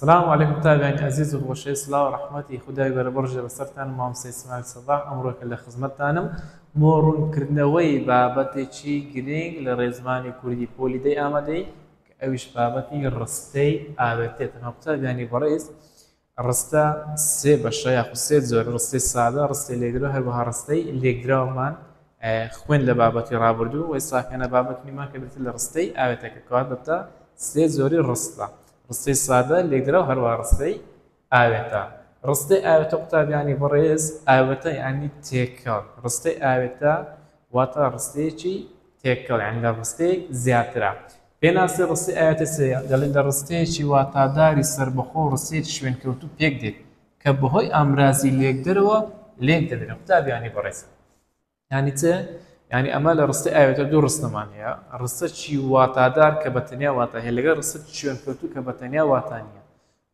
سلام علیکم تابیانی ئەزیز و خۆشەویست سڵاو ڕەحمەتی خودای بەرە بڕژێ بەسەرتان و مامۆستای ئیسماعیل سەباح ئەمڕۆ کە لە خزمەتتانم بۆ ڕوونکردنەوەی بابەتێکی گرینگ لە ڕێزمانی کوردی پۆلی دەی ئامادەی کە ئەویش بابەتی ڕستەی ئاوێتێ تەنها قوتابیانی بەڕێز ڕستە سێ بەشە یاخود سێ زۆر ڕستەی سادە ڕستەی لێکدرا هەروەها ڕستەی لێکدراومان خوێن لە بابەتی ڕابردوو وەی ساکەنە بابەتنیمان کە بێت لە ڕستەی ئاوێتەکە کات بەتە سێ زۆری ڕستە ڕستەی سادە، لێکدراو هەروەها ڕستەی ئاوێتە. ڕستەی ئاوێتە قوتابیانی بەڕێز، ئاوێتە یانی تێکەڵ، ڕستەی ئاوێتە واتە ڕستەیەکی تێکەڵ یانی لە ڕستەیەک زیاترە. پێناسی ڕستەی ئاوێتە چییە؟ دەڵێن لە ڕستەیەکی واتاداری سەربەخۆ و ڕستەیەکی شوێنکەوتوو پێکدێت کە بەهۆی ئامرازی لێکدەرەوە لێکدەدرێن. قوتابیانی بەڕێز. یانی چ؟ یانی ئەمە لە ڕستەی ئاوێتە دوو ڕستەمان هەیە ڕستە چی واتادار کە بە تەنیا واتا هەیە لەگەڵ ڕستە شوێن کەوتو کە بە تەنیا واتا نییە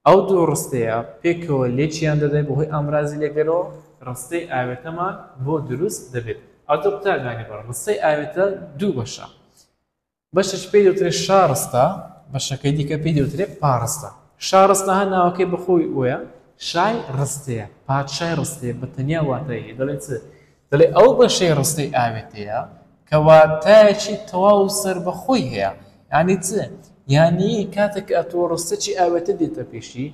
ئەو دوو ڕستەیە پێکەوە لێکیان دەدەی بەهۆی ئامرازی لەگەرەوە ڕستەی ئاوێتەمان بۆ دروست دەبێت ئەو دوو قوتابیانی بەڕە ڕستەی ئاوێتە دوو بەشە بەشێک پێی دەوترێت شارستە، بەشەکەی دیکە پێی دەوترێت پاڕستە. شارستە هەر ناوەکەی بە خۆی وەیە، شای ڕستەیە، پادشای ڕستەیە بە تەنیا واتای هەیە، دەڵێن چ؟ دەڵێ ئەو بەشەی ڕستەی ئاوێتەیە کە واتایەکی تەواو و سەربەخۆی هەیە. یانی چ؟ یانی کاتێک کە ئەتۆ ڕستەکی ئاوێتە دێتە پێشی،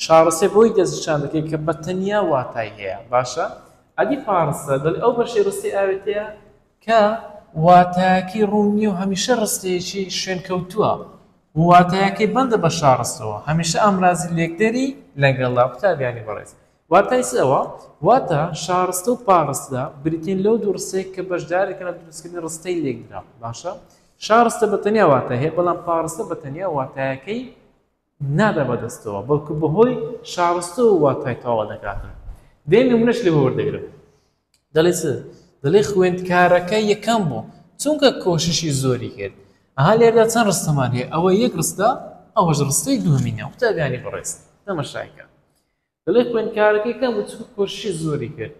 شارستەی بۆی دەستنیشان دەکەی کە بە تەنیا واتای هەیە. باشە ئەدی پاڕستە؟ دەڵێ ئەو بەشەی ڕستەی ئاوێتەیە، کە واتایەکەی ڕوون نییە و هەمیشە ڕستەیەکی شوێنکەوتووە و واتایەکەی بەندە بە شاڕستەوە، هەمیشە ئامرازی لێکدەری لەگەڵە. قوتابیانی بەڕێز، واتای چ ئەوە؟ واتە، شاڕستە و پاڕستە بریتین لەو دوو ڕستەیە کە بەشدارێکن لە دروستکردنی ڕستەی لێکدراو. باشە، شاڕستە بە تەنیا واتای هەیە، بەڵام پاڕستە بە تەنیا واتایەکەی نادا بە دەستەوە بەڵکو بەهۆی شارستەوە واتای تەواو دەکاتن دێ نمونەش لێ وەردەگرم دەڵێ چ دەڵێ خوێندکارەکە یەکەم بوو چونکە کۆششی زۆری کرد ئەها لێردا چەند ڕستەمان هەیە ئەوە یەک ڕستە ئەوەش ڕستەی دووەمینە قوتابیانی بەڕێز تەمەشایکە دەڵێ خوێندکارەکە یەکەم بوو چونکە کۆششی زۆری کرد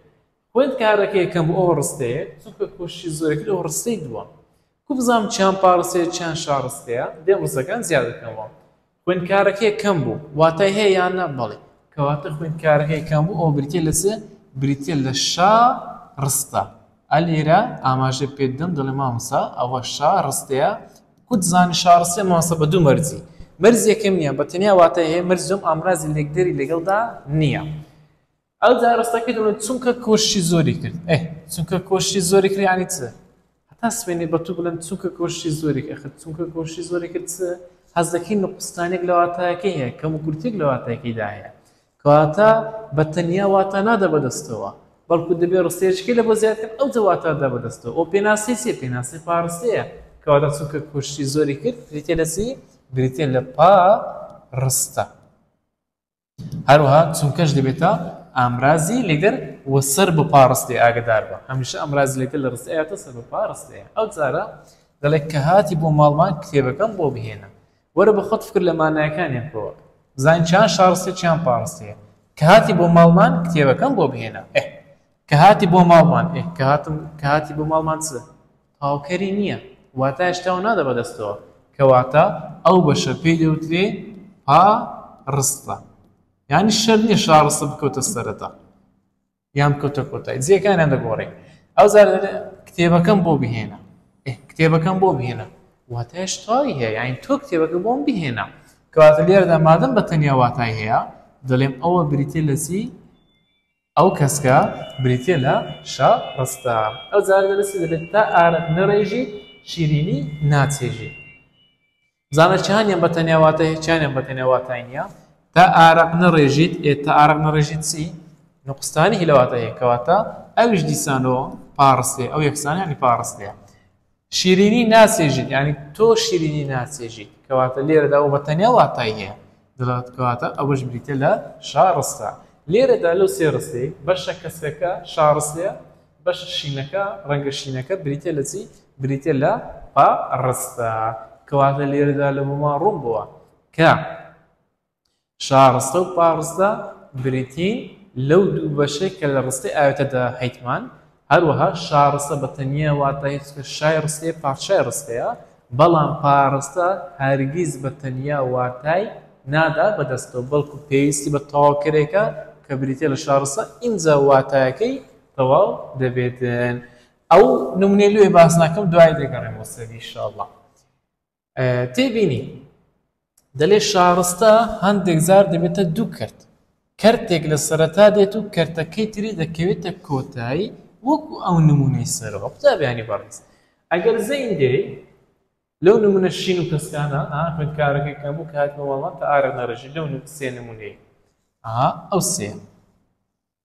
خوێندکارەکە یەکەم بوو ئەوە ڕستەیە چونکە کۆششی زۆری کرد ئەوە ڕستەی دووەم کو بزانم چیان پاڕستەیە چیان شاڕستەیە دێم ڕستەکان زیاد دەکەمەوە خوێندکارەکە یەکەم بوو واتای هەیە یان نە بەڵێ کەواتە خوێندکارەکە یەکەم بوو ئەو بریتە لە چێ بریتە لە شا ڕستە ئەلێرە ئاماژە پێدەم دەڵێ مامسا ئەوە شا ڕستەیە کورد زمانی شاڕ سێ ماسە بە دوو مەرجی. مەرج یەکەم نییە، بە تەنیا واتای هەیە، مەرج دووەم ئامرازی لێکدەری لەگەڵدا نییە. ئەو جا ڕستەکەی دەڵێت، چونکە کۆششی زۆری کرد. ئەه، چونکە کۆششی زۆری کرد یانی چ؟ هەتا سبەینێ بە تو بڵێم چونکە کۆششی زۆری کرد، ئەخر چونکە کۆششی زۆری کرد چ؟ حەز دەکەی نقوستانێک لە واتایەکەی هەیە، کەموکورتییەک لە واتایەکەیدا هەیە. کەواتە بە تەنیا واتا نادا بە دەستەوە، بەڵکو دەبێ ڕستەیەچکەی لە بۆ زیاد کرد ئەو جە واتا دا بە دەستەوە. ئەو پێناسەی چیە؟ پێناسەی پا ڕستەیە. کەواتە چونکە کۆششی زۆری کرد بریتیە لە چی؟ بریتیە لە پا ڕستە. هەروەها چونکەش دەبێتە ئامرازی لەگەر و سەر بە پا ڕستەی ئاگدار بە هەمیشە ئەمراز لەگەر لە ڕستەیەتە سەر بە پا ڕستەیە ئەو جارە دەڵێ کە هاتی بۆ ماڵمان کتێبەکەم بۆ بهێنە وەرە بە خۆت فکر لە مانایەکانی بکەوە بزانین چیان شاڕستە چیان پاڕستەیە کە هاتی بۆ ماڵمان کتێبەکەم بۆ بهێنە ئه کە هاتی بۆ ماڵمان ئه کە هاتم کە هاتی بۆ ماڵمان چ هاوکەری نییە واتە هێشتاو نادە بەدەستەوە کەواتە ئەو بەشە پێی دەوترێ پا ڕستە یعنی شەر نیە شاڕستە بکەوتە سەرەتا یان کەوتە کۆتای جیەکانیان دەگۆڕی ئەوجار دەلێ کتێبەکەم بۆ بهێنە ئێ کتێبەکەم بۆ بهێنە واتای شتاوی هەیە یانی تۆ کتێبەکە بۆم بهێنە کەواتە لێرەدا مادەم بە تەنیا واتای هەیە دەڵێم ئەوە بریتە لە چی ئەو کەسکە بریتە لە شە ڕستە ئەو جارە لەسی دەبێت تا ئارەت نەڕێژی شیرینی ناچێژی زانە چیانیان بە تەنیا واتای هەیە چیانیان بە تەنیا واتای نییە. تا ئارەق نەڕێژیت، ئێ تا ئارەق نەڕێژیت چی؟ نوقستانی هی لە واتای هەیە، کەواتە ئەویش دیسانۆ پاڕستێ، ئەو یەکسانە یانی پاڕستەیە. شیرینی ناچێژیت، یانی تۆ شیرینی ناچێژیت، کەواتە لێرەدا ئەو بە تەنیا واتای هەیە، دەڵێت کەواتە ئەوەش بریتییە لە شاڕستە. لێرەدا لەو سێ ڕستەی، بەشە کەسرەکە شاڕستەیە، بەشە شینەکە، ڕەنگە شینەکە، بریتیە لە چی؟ بریتیە لە پا ڕستە. کەواتە لێرەدا لە بۆمان ڕوون بووە کە شاڕستە و پا ڕستە بریتین لەو دوو بەشەی کە لە ڕستەی ئاوێتەدا هەیتمان، هەروەها شاڕستە بە تەنیا واتای هەیە شای ڕستەیە، پارچەی ڕستەیە، بەڵام پا ڕستە هەرگیز بە تەنیا واتای نادا بە دەستەوە، بەڵکو پێویستی بە تەواوکەرێکە کە بریتیە لە شاڕستە، ئینجا واتایەکەی تەواو دەبێت ئەو نمونەی لێ باس ناکەم دوای دەگەڕێم بۆ سەری انشاءاللە تێبینی دەلێ شارستە هەندێک زار دەبێتە دوو کرد کەرتێک لە سەرەتا دێت و کەرتەکەی تری دەکەوێتە کۆتایی وەکو ئەو نمونەی سەرەوە قوتابیانی بەڕێز ئەگەر زەین دێ لەو نمونە شین و کەسکانە خوێندکارەکەی کەم و کات بەوەڵات ئارە نەڕژی لەو سێ نمونەی ئەو سێ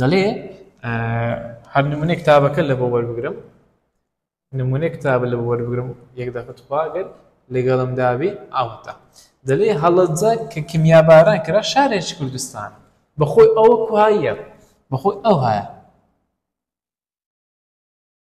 دەڵێ هەر نمونە کتابەکە لە بۆ وەربگرم نمونە کتاب لە وەربگرم یەک دەکە تخواگەر لەگەڵم دابێ ئاوتە دەلێ هەڵەجە کە کمیاباران کرا شارێک کوردستان بەخۆی ئەوە کوهاییە بەخۆی ئەو هەیە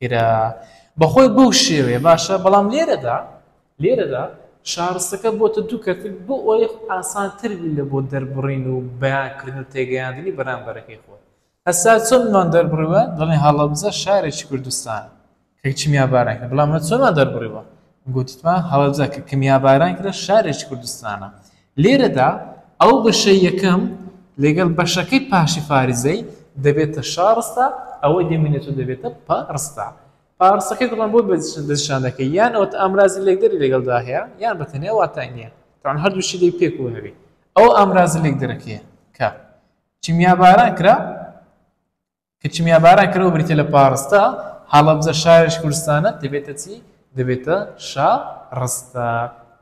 کرا بەخۆی بەو شێوەیە باشە بەڵام لێرەدا لێرەدا شارستەکە بۆتە دوو کەرتک بۆ ئەوەی ئاسان تر بی لە بۆ دەربڕین و بەیانکردن و تێگەیاندنی بەرامبەرەکەی خۆ هەستا چۆنمان دەربڕیوە دەڵێن هەڵەبزە شارێکی کوردستان کە چیمیا باران کرد بەڵام چۆنمان دەربڕیوە گوتمان هەڵەبزە کە کمیاباران کرا شارێکی کوردستانە لێرەدا ئەو بەشەی یەکەم لەگەڵ بەشەکەی پاشیفاریزەی دەبێتە شا ڕستە، ئەوەی دەمینێت و دەبێتە پە ڕستە. پا ڕستەکەی دەڵێن بۆ دەستنیشان دەکەی، یان ئەوەتا ئامرازی لێکدەری لەگەڵدا هەیە، یان بە تەنیا واتای نییە. تەبعەن هەردووکیشی دەبی پێکەوە هەبی. ئەوە ئامرازە لێکدەرەکەیە کە کیمیاباران کرا، کە کیمیاباران کەرەوە بریتیە لە پاڕستە، هەڵەبجە شاریش کوردستانە، دەبێتە چی؟ دەبێتە شا ڕستە.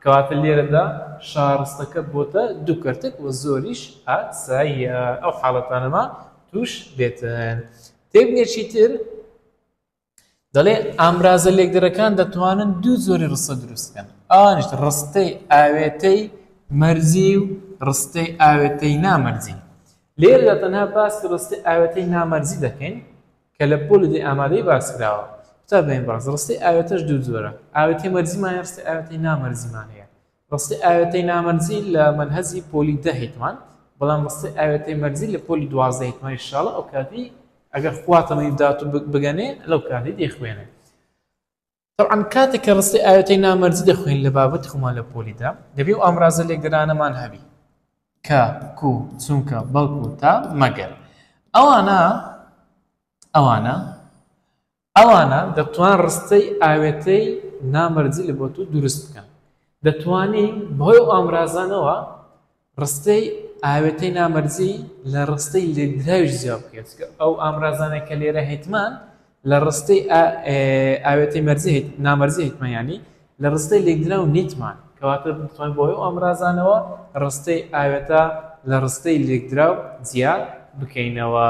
کەواتە لێرەدا شاڕستەکە بۆتە دوو کەرتک و زۆریش ئاساییە ئەو حاڵەتانەمان تووش بێتن. تێبگەی چیتر؟ دەڵێ ئامرازە لێکدرەکان دەتوانن دوو زۆری ڕستە دروستکەن ئەوانش ڕستەی ئاوێتەی مەرزی و ڕستەی ئاوێتەی نامەرزی لێردا تەنها باسی ڕستی ئاوێتەی نامەرزی دەکەین کە لە پۆلی دی ئامادەی باسکراوە تا بێن باز ڕستی ئاوێتەش دوو زۆرە ئاوێتی مەرزیمان ڕستی ئاوێتی نامەرزیمان هەیە ڕستەی ئاوێتەی نامەرزی لە مەنهەجی پۆلی دە هیتمان بەڵام ڕستەی ئاوێتەی مەرزی لە پۆلی دوازدە هیتمان ئینشاڵڵا ئەو کاتی ئەگەر خوا تەمەنی بدات و بگەنێ لەو کاتی دەیخوێنێ طبعا کاتێک کە ڕستی ئاوێتەی نامەرزی دەخوێن لە بابەت خۆمان لە پۆلیدا دەبێ و ئامرازە لێگرانەمان هەبی کە کو چونکە بەڵکو تا مەگەر ئەوانە ئەوانە ئەوانە دەتوان ڕستەی ئاوێتەی نامەرجی لە بۆتو دروست بکەن. دەتوانی بەهۆی ئەو ئامرازانەوە ڕستەی ئاوێتەی نامەرجی لە ڕستەی لێکدراویش جیا بکەیت. ئەو ئامرازانەی کە لێرە هەیتمان لە ڕستەی ئاوێتەی مەرجی هەیت نامەرجی هەیتمان یانی لە ڕستەی لێکدراو نیتمان، کەواتە دەتوانین بۆ ئەو ئامرازانەوە ڕستەی ئاوێتە لە ڕستەی لێکدراو جیا بکەینەوە.